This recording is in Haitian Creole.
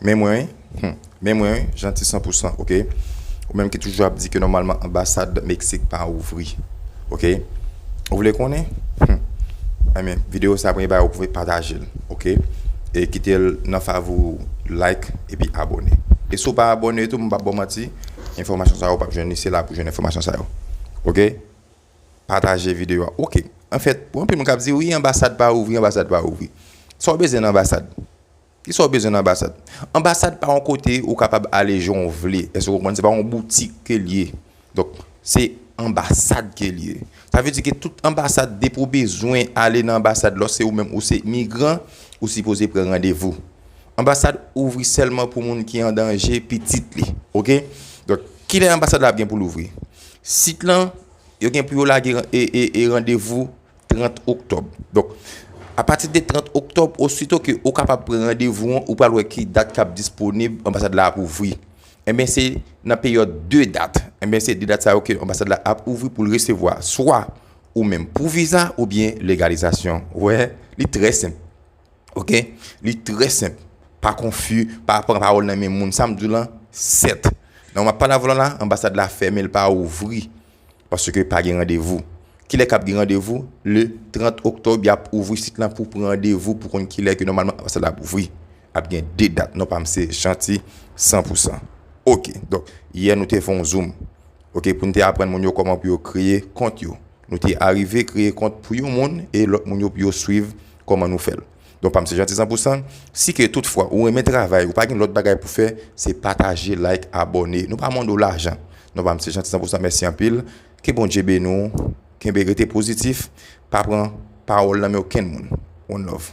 Men mwen wi, humm, men mwen wi, Jeanty san pou san, ok. Ou menm ki toujou ap di ke nòmalman anbasad Meksik pa ouvri, ok. Ou vle konnen? Humm, enben, videyo sa premye bagay ou pou fè pataje l, ok. E kite l nan favori ou, like epi abone. E si w pa abone tou, m pap ba w manti, enfòmasyon sa yo ou pap jwenn li, se la pou jwenn enfòmasyon sa yo, ok. Pataje videyo a, ok. Anfèt, pou anpil moun k ap di, wi anbasad pa ouvri, anbasad pa ouvri. Sa w bezwen nan anbasad? Kisa ou bezwen nan anbasad? Anbasad pa yon kote ou kapab ale jan ou vle. Èske ou konprann? Se pa yon boutik ke li ye. Donk, se anbasad ke li ye. Sa vle di ke tout anbasad, depi ou bezwen ale nan anbasad, lò se ou menm ou se migran, ou sipoze pran randevou. Anbasad ouvri sèlman pou moun ki an danje, pitit li. Ok? Donk, kilè anbasad la ap gen pou l ouvri? Sit lan, yo gen pou yo lage randevou 30 oktòb. Donk, apati de 30 oktòb, osito ke ou kapab pran randevou an, ou pral wè ki dat kap disponib, anbasad la ap ouvri. Enben se nan peryòd 2 dat, enben se 2 dat sa yo ke anbasad la ap ouvri pou l resevwa swa ou menm pou viza oubyen legalizasyon. Ou wè, li trè senp. Ok, li trè senp. Pa konfi, pa pran pawòl nan men moun. Sa m di w lan, sèt. Nan map pale avè w la, anbasad la fèmen, li pa ouvri. Paske pa gen randevou. Kilè kap gen randevou? Le 30 octobre yap ouvri sit lan pou pran randevou pou konn kilè ke nòmalman anbasad la ap ouvri. Ap gen 2 dat non pam se Jeanty 100 pou 100. Ok. Donk yè nou te fè yon zoom. Ok poun te aprann moun yo kòman pou yo kreye kont yo. Nou te arive kreye kont pou yon moun e lòt moun yo pou yo swiv kòman nou fèl. Don pam se Jeanty Sanpousan, si ke tout fwa ou renmen travay ou pa gen lòt bagay pou fè se pataje like abòne nou pa mande w lajan non pam se Jeanty Sanpousan mèsi anpil ke Bondye beni w kenbe rete pozitif pa pran pawòl nan men okenn moun one love.